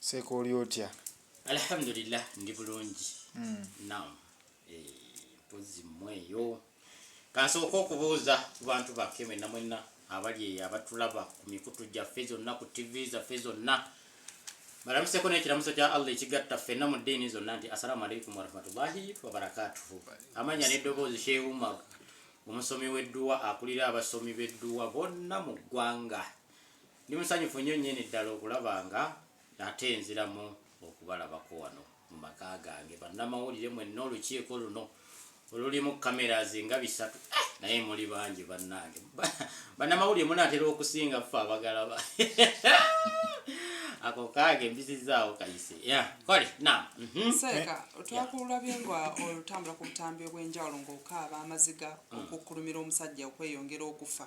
seeka oli otya alhamdulillah ndi bulungi hmm. nam eh, mpozi mweyo kansooka okubuuza ku bantu bakke mwenna mwenna abali eyo abatulaba ku mikutu gyaffe zonna ku ttivi zaffe zonna balamuseko nekiramuso kya allah ekigatta ffenna mu ddiini zonna nti assalamu alaikum warahmatullahi wabarakatuhu amanya neddoboozi sheumar omusomi w'edduwa akulira abasomi b'edduwa bonna mu ggwanga Ndi musanyufu nnyo nnyini ddala okulaba nga nate nziramu okubalabako wano mu maka gange, bannamawulire mwenna, olukiiko luno olulimu cameras nga bisatu, eh, naye muli bangi bannange. Bannamawulire munaatera okusinga ffe abagala ba ako kaage mbisizaawo kayise ya kole na mhm. seeka eh, twakulabye nga olutambula ku butambi obw'enjawulo ng'okaaba amaziga mm. okukkulumira omusajja okweyongera okufa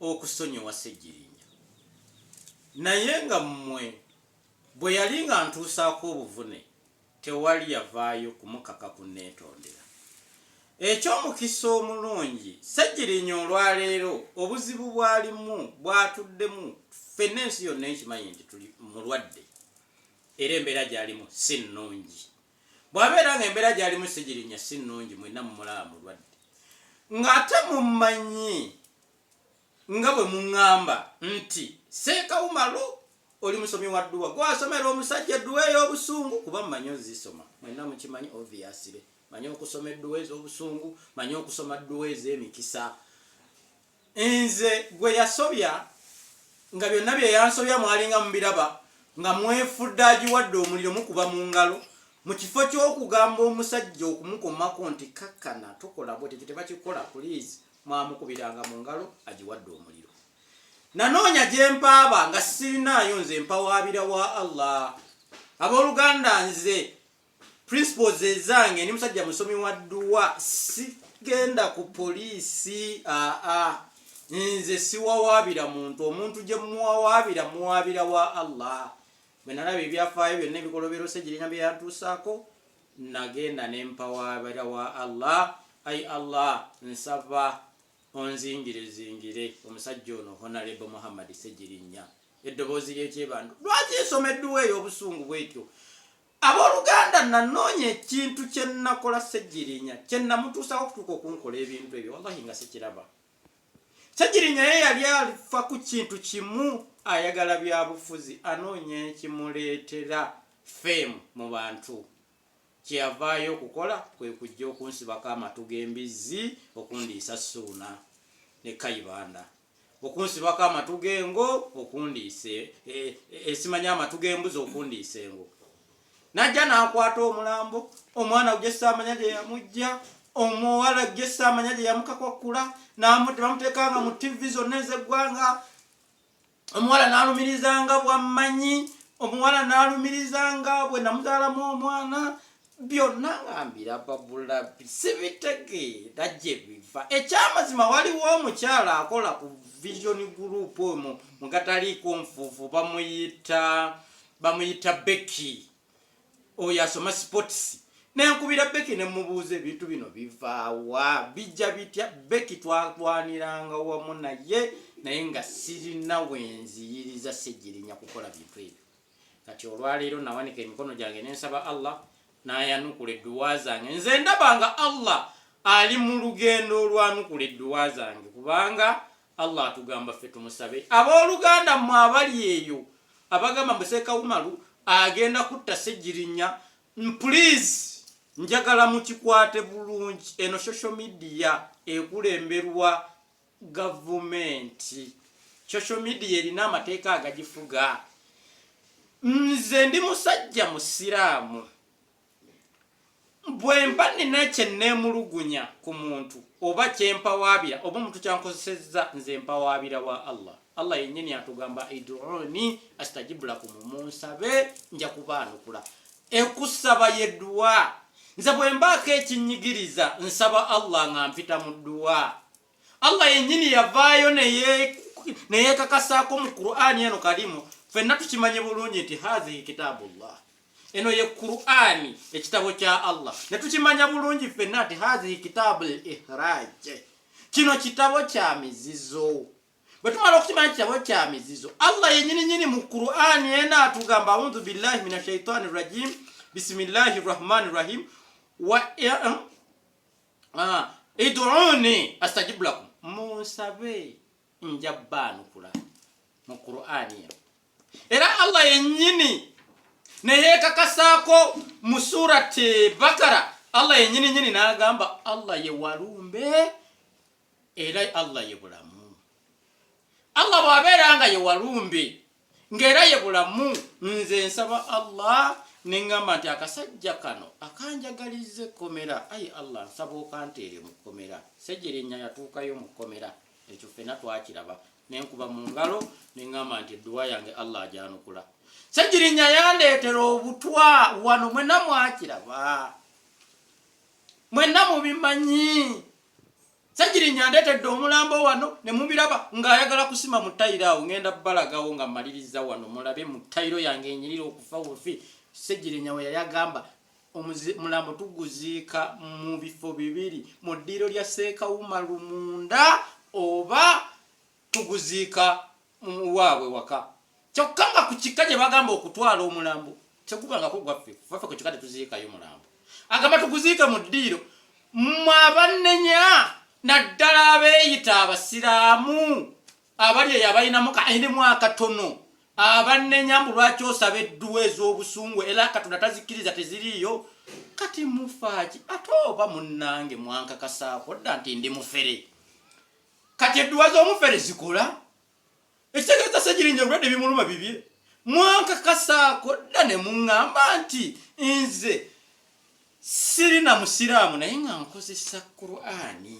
okusonyiwa Ssegirinya, naye nga mmwe bwe yali ng'antuusaako obuvune tewali yavaayo kumukaka kunneetondera. Eky'omukisa omulungi, Ssegirinya olwaleero obuzibu bw'alimu bw'atuddemu ffenna ensi yonna ekimanyi nti tuli mulwadde era embeera gy'alimu si nnungi. Bw'abeera nga embeera gy'alimu sigirinya si nnungi mwenna mumulaba mulwadde nga ate mummanyi nga bwe mungamba nti Seekawumalu oli musomi wa dduwa gwe asomera omusajja edduwa ey'obusungu kuba mmanyi ozisoma mwenna mukimanyi obviyasire manyi okusoma edduwa ez'obusungu manyi okusoma dduwa ez'emikisa Nze gwe yasobya nga byonna bye yansobya mwalinga mubiraba nga mwefudde agiwadde omuliro mukuba mu ngalo mu kifo ky'okugamba omusajja okumukomako nti kakkana tokola bwete ekyo tebakikola puliizi mwamukubiranga mu ngalo agiwadde omuliro nanoonya gye mpaaba nga sirinaayo nze mpawaabira wa allah abooluganda nze principles ezange ndi musajja musomi wa dduwa sigenda ku poliisi aa nze siwawaabira muntu omuntu gye muwawaabira muwaabira wa allah bwe nalaba ebyafaayo byonna ebikolobero segirina bye yantuusaako nagenda ne mpawaabira wa allah ai allah nsaba onzingire zingire omusajja ono honalebo muhammadi segirinya eddoboozi lyekyebantu lwaki nsoma edduwa ey'obusungu bwetyo Abooluganda, nnanoonya ekintu kye nnakola Ssegirinya kye nnamutuusaako okutuuka okunkola ebintu ebyo, wallahi nga sikiraba. Ssegirinya ye yali alifa ku kintu kimu, ayagala byabufuzi, anoonya ekimuleetera fame mu bantu. Kye yavaayo okukola kwe kujja okunsibako amatu g'embizzi okundiisa Ssuuna ne Kayibanda. okunsibako amatu g'engo okundiisa e, e, esimanya amatu g'embuzi okundiisa engo najja n'akwata omulambo omwana gwe saamanya gye yamujja omuwala gye saamanya gye yamukakwakkula bamuteekanga mu tivi zonna ez'eggwanga omuwala n'alumirizanga bwammanyi omuwala n'alumirizanga bwe namuzaalamu omwana byonna nga mbiraba bulabi sibitegeera gye biva ekyamazima waliwo omukyala akola ku vision group omu mugataliiko nfuufu bamuyita bamuyita beki oyo asoma sports nenkubira beki nemubuuza ebintu bino bivaawa bijja bitya beki twalwaniranga wamu naye naye nga sirina wenziyiriza segirinya kukola bintu ebyo kati olwaleero nawanika emikono gyange nensaba Allah nayanukula edduwa zange nze ndaba nga Allah ali mu lugendo olwanukula edduwa zange kubanga Allah atugamba ffe tumusabe abooluganda mmwe abali eyo abagamba museeka umalu agenda kutta segirinya please njagala mukikwate bulungi eno social media ekulemberwa gavumenti social media erina amateeka agagifuga nze ndi musajja musiraamu bwemba nina kyenneemulugunya ku muntu oba kyempawaabira oba omuntu kyankozesezza nze mpawaabira wa allah allah yennyini atugamba iduuni astajibulakumu munsabe nja kubaanukula ekusaba yeduwa nze bwembaako ekinyigiriza nsaba allah nga mpita mu duwa allah yennyini yavaayo neyekakasaako mu qur'ani eno kalimu fenna tukimanye bulungi nti hazihi kitaabu llah eno ye qur'ani ekitabo kya allah netukimanya bulungi fenna nti hazihi kitaabu l ihraje kino kitabo kya mizizo bwe tumala okukimanya kitabo kya mizizo allah yenyininyini mu qur'ani ena atugamba audhu billahi min ashaitani rajim bisimillahi rahmani rahim wa eh, ah, iduuni astajibu lakum munsabe nja baanukula mu qurani eno era allah yenyini neyekakasaako mu surati bakara allah yenyini nyini nagamba allah ye walumbe era allah ye bulamu allah bwabeera nga ye walumbe ng'era ye bulamu nze nsaba allah neŋŋamba nti akasajja kano akanjagaliza ekkomera ayi allah nsaba okanteere mu kkomera sejerenya yatuukayo mu kkomera ekyo ffena twakiraba nenkuba mu ngalo neŋŋamba nti edduwa yange allah agyanukula segirinya yandeetera obutwa wano mwena mwakiraba mwena mubimanyi Ssegirinya andeetedde omulambo wano ne mubiraba ng'ayagala kusima mu tayiro awo ngenda balagawo nga mmaliriza wano mulabe mu tayiro yange enyirira okufa bufi Ssegirinya we yali agamba omulambo tuguziika mu bifo bibiri mu ddiiro lya Seekawuma Lumunda oba tuguziika mu waabwe waka kyokka nga ku kika gye bagamba okutwala omulambo tegubangako gwaffe faffe ku kika tetuziikayo mulambo agamba tuguziike mu ddiiro mmwe abannenya naddala abeeyita abasiraamu abali eyo abalinamu kairimu akatono abannenya mbu lwaki osaba edduwa ez'obusungu era katonda tazikiriza teziriiyo kati mufaaki ate oba munnange mwankakasaako dda nti ndi mufere kati edduwa z'omufere zikola ekitegeeza segirinja obulwadde ebimuluma bibye mwankakasaako dda ne muŋŋamba nti nze siri na musiraamu naye nga nkozesa qurani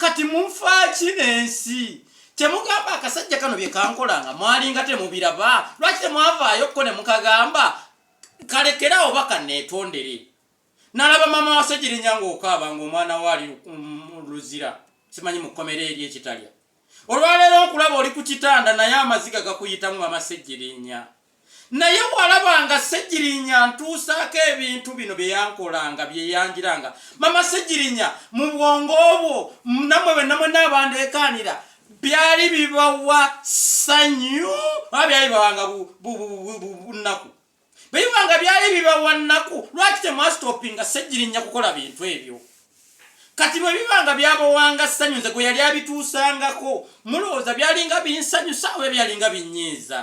kati munfaaki n'ensi temugamba akasajja kano bye kankola nga mwalinga temubiraba lwaki temwavaayo kko ne mukagamba kalekerawo bakaneetondere Nalaba maama wa Ssegirinya ng'okaaba ng'omwana we ali mu Luzira, simanyi mu kkomera eri e Kitalya. Olwaleero nkulaba oli ku kitanda naye amaziga gakuyitamu maama Ssegirinya. Naye walabanga Ssegirinya antuusaako ebintu bino bye yankolanga, bye yanjiranga. Maama Ssegirinya mu bwongo bwo namwe be namwe n'abandeekaanira byali bibawa ssanyu oba byali bibawanga bunnaku? bwebiba nga byali bibawa nnaku lwaki temwasitopinga ssegirinya kukola bintu ebyo kati bwe biba nga byabawanga ssanyu nze gwe yali abituusangako mulowooza byalinga binsanyusa oba byalinga binnyiiza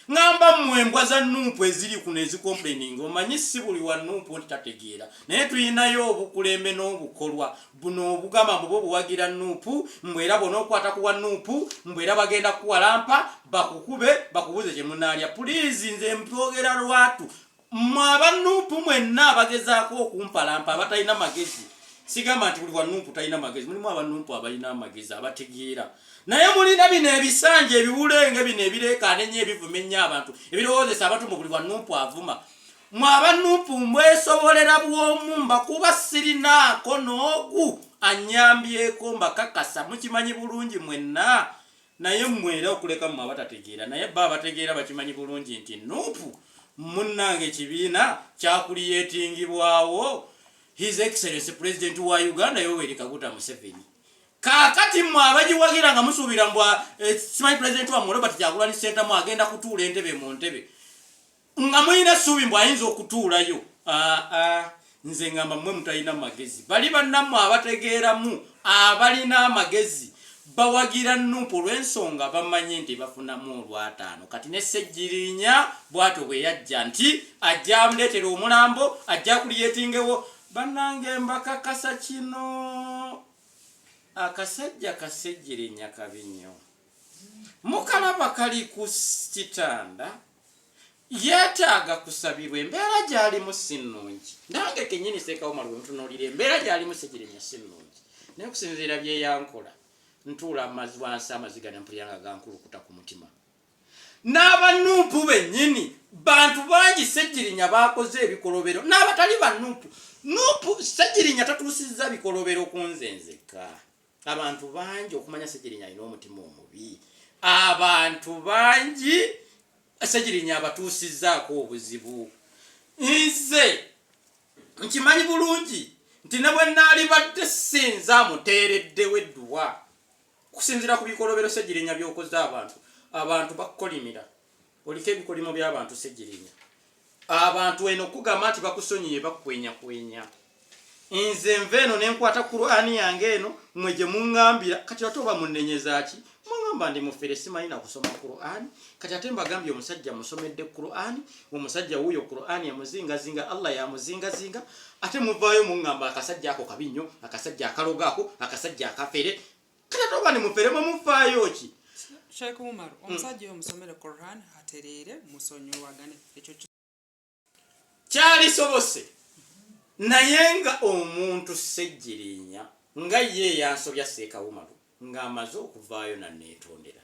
ŋamba mmwe embwa za nuupu eziri kuno ezikomplaininga omanyi si buli wa nuupu nti tategeera naye tulinayo obukulembe n'obukolwa Buno obugamba mbu bo buwagira nup mbu era bwonokwata kuwa nup mbu era bagenda kuwalampa bakukube bakubuze kyemunalya pulizi nze mbyogera lwatu mwe aba nup mwenna abagezako okumpalampa abatalina magezi sigamba nti buli wa nup talina magezi mulimu aba nup abalina amagezi abategeera naye mulina bino ebisanja ebiwulenge bino ebirekanenyo ebivumenya abantu ebirowozesa abatu mu buli wa nup avuma Mwe aba Nup mbwesobolera bwomu mbakuba sirinaako n'ogu annyambyeko mbakakasa mukimanyi bulungi mwenna naye mmwe era okuleka mmwe abatategeera naye bba abategeera bakimanyi bulungi nti Nup munnange ekibiina kyakuliyetingibwawo his excellency president wa uganda yoweri kaguta museveni kakati mwe abagiwagira nga musuubira mbwa eh, simanyi president wamwe robert kyagulanyi sentamu agenda kutuula entebe mu ntebe Nga mulina suubi mbu ayinza okutuulayo aa nze ngamba mmwe mutalina magezi bali bannammwe abategeeramu abalina amagezi bawagira nup olw'ensonga bamanye nti bafunamu olwataano kati ne ssegirinya bwatyo bwe yajja nti ajja amuleetera omulambo ajja kuliyetingewo bannange mbakakasa kino akasajja kasegirinya kabi nnyo mukalaba kali ku kitanda Yeetaaga kusabirwa. Embeera gy'alimu si nnungi. Nange kennyini Sseekawomolo bwe mutunuulira embeera gy'alimu Ssegirinya si nnungi. Naye okusinziira bye yankola ntuula amazi wansi amaziga ne mpulira nga gankulukuta ku mutima. N'abannumpu bennyini bantu bangi Ssegirinya baakoze ebikolobero n'abatali bannumpu. Numpu Ssegirinya tatuusizza bikolobero ku nze nzekka. abantu bangi okumanya segirinya alina omutima omubi abantu bangi segirinya abatuusizaako obuzibu nze nkimanyi bulungi nti ne bwe naalibadde sinza amuteereddewo edduwa okusinziira ku bikolobero segirinya byokoze abantu abantu bakukolimira Oliko ebikolimo by'abantu Ssegirinya. Abantu eno kugamba nti bakusonyiye bakwenyakwenya. Nze nva eno ne nkwata Kuraani yange eno mwe gye muŋŋambira kati ate oba munenyezaaki muŋŋamba ndi mufere simanyi na kusoma Kuraani kati ate mbagambye omusajja musomedde Kuraani omusajja wuuyo Kuraani emuzingazinga Allah yamuzingazinga ate muvaayo muŋŋamba akasajja ako kabi nnyo akasajja akalogo ako akasajja akafere kale toba ne mufere mwe mufaayo ki Sheikh Umar hmm. omusajja oyo musomere Quran atereere musonyiwagane ekyo kyali sobose naye nga omuntu sejjirinya nga ye yansobya Sheikh Umar nga amaze okuvaayo na netondera